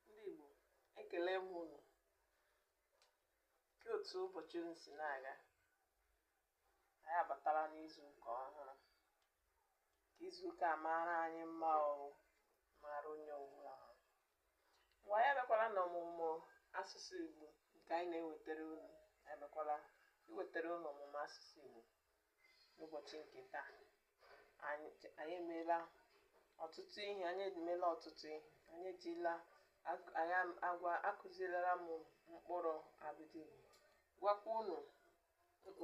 ndị Igbo ekele m unu kee otu ụbọchị unu si na-aga anyị abatala n'izu ụka ọhụrụ ka izu ụka a maara anyị mma ọrụ maara onye ọbụla ha mgbe anyị abịakwala n'ọmụmụ asụsụ Igbo nke anyị na-ewetara unu anyị abịakwala iwetara unu ọmụmụ asụsụ Igbo n'ụbọchị nke taa anyị anyị emeela ọtụtụ ihe anyị emeela ọtụtụ ihe anyị ejila ak- anyị am- agwa akụzilara m mkpụrụ abịdị Igbo gwakwa unu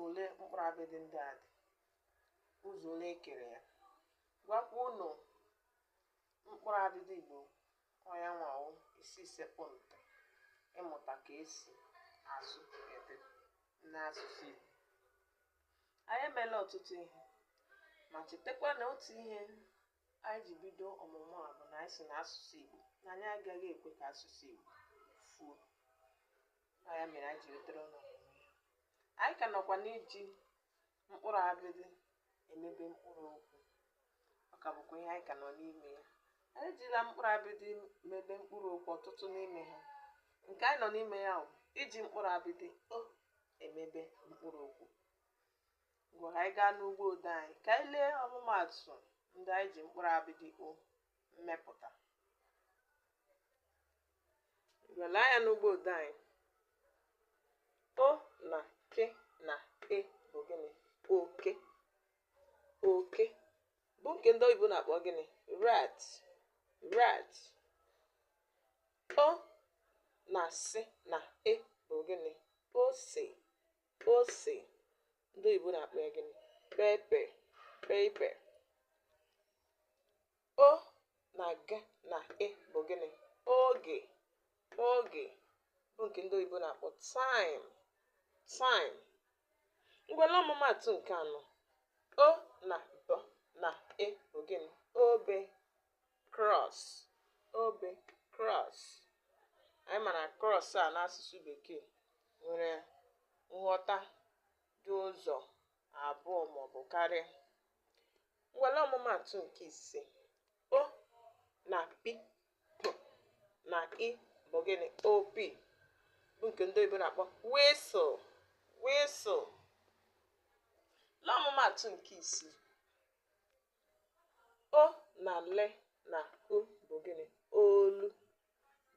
ole mkpụrụ abịdị ndị a dị ụzọ ole e kere ya gwakwa unu mkpụrụ abịdị igbo ọ ya nwa wụ isi sekpụ ntị ịmụta ka e si asụ ede n'asụsụ igbo anyị emeela ọtụtụ ihe ma chetakwa na otu ihe anyị ji bido ọmụmụ a bụ na anyị si na asụsụ igbo na anyị agaghị ekwe ka asụsụ igbo fuo ọ ya mere anyị ji wetara unu anyị ka nọkwa n'iji mkpụrụ abịdị emebe mkpụrụ okwu ọ ka bụkwa ihe anyị ka nọ n'ime ya anyị ejila mkpụrụ abịdị mebe mkpụrụ okwu ọtụtụ n'ime ha nke anyị nọ n'ime ya bụ iji mkpụrụ abịdị o emebe mkpụrụ okwu ngwa ka anyị gaa n'ugbo ode anyị ka anyị lee ọmụmaatụ ndị anyị ji mkpụrụ abịdị o mepụta ngwa lee anya n'ugbo ode anyị o na k na e bụ gịnị oke oke bụ nke ndị oyibo na-akpọ gịnị rat rat o na s na e bụ gịnị ose ose ndị oyibo na-akpọ ya gịnị pepper pepper o na g na e bụ gịnị oge oge bụ nke ndị oyibo na-akpọ time time ngwa lee ọmụmaatụ nke anọ o na b na e bụ gịnị obe cross obe cross anyị ma na cross a n'asụsụ bekee nwere nghọta dị ụzọ abụọ maọbụ karịa ngwa lee ọmụmaatụ nke ise o na p na i bụ gịnị opi bụ nke ndị oyibo na-akpọ whistle whistle lee ọmụmaatụ nke isii o na l na u bụ gịnị olu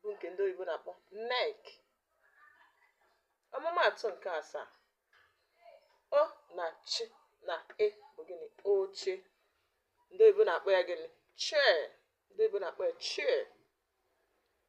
bụ nke ndị oyibo na-akpọ neck ọmụmaatụ nke asaa o na ch na e bụ gịnị oche ndị oyibo na-akpọ ya gịnị chair ndị oyibo na-akpọ ya chair